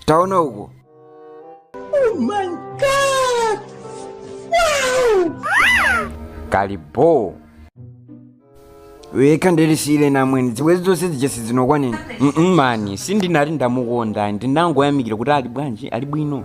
taona uko kalipo wekha ndisiyireni namwene zibwezi zonse zija sizinokwaneni Mm, mm, mani sindinati ndamukonda ndinangoyamikira kuti ali bwanji ali bwino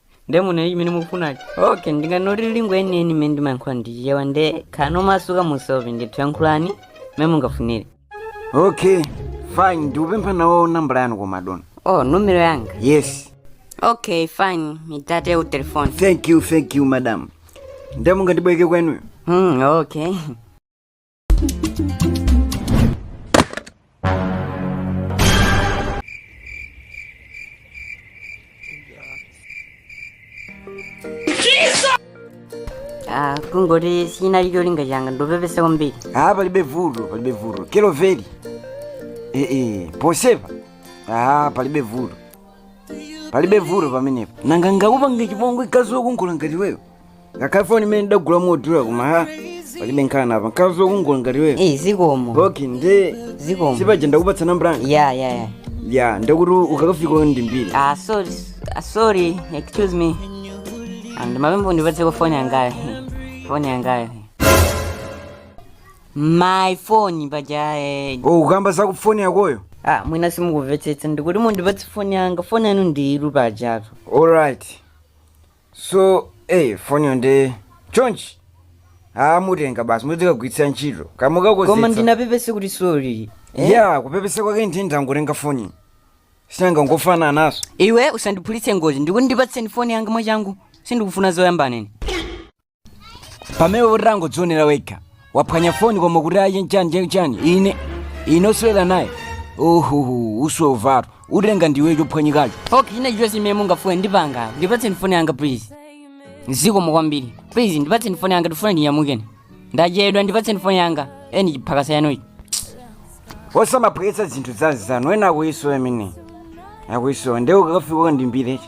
nde muneni chimene mukufunacho okay ndingonati lingo yeniyeni imene ndimayankhula ndi Chichewa nde khalani omasuka musaope ndithu yankhulani mmene mungafunire okay fine ndikupemphako nawo nambala yanu koma dona oh numero yanga yes okay fine ndipatseni telefoni thank you thank you madam nde mungandibwereke kwenuyo hmm okay Ah, kungoti sinali cholinga changa ndapepesa kwambiri ah palibe vuto palibe vuto kelo veli eh eh pepa ah palibe vuto palibe vuto pamenepo nanga ndingakupange chipongwe mkazi wokongola ngati wewe ngakhale foni imene ndidagula modula koma ha palibe nkhani apa mkazi wokongola ngati wewe Eh, zikomo okay nde zikomo sipaja ndakupatsa nambala yanga ya ya ya ya nde kuti ukakafika undiimbire ah sorry ah, sorry excuse me and mapembo ndipatseniko foni yangayo foni yangayo my phone paja eh, oh ukukamba za foni yakoyo ah mwina simukumvetsetsa ndikuti mundipatse foni yanga foni yanu ndiyiru pajatu alright so eh foniyo nde chonchi aa mwatenga basi mudzikagwiritsa ntchito koma kamukakonzetsa ndinapepese kuti sori ya kupepesa kwake ndi ndangotenga foni si nanga ngofanananso iwe usandiphulitse ngozi ndikuti ndipatseni foni yanga mwachangu sindikufuna zoyambana nane pamenepotu wangodzionera wekha waphwanya foni koma kuti achite nchani chake chani ine ine osewera naye ohoho usamvetu utenga ndiwe chophwanyikacho ok ine chonse imene mungafune ndipanga ndipatseni foni yanga please zikomo kwambiri please ndipatseni foni yanga ndifuna ndinyamuke ine ndachedwa ndipatseni foni yanga eni chiphakasa chanuchi osamaphweketsa zinthu za anzanu ena akuzisowa amene akuzisowa nde ukakafika ukandiimbire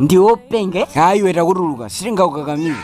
ndi wopenga aa iwe takutuluka sitingakukakamiza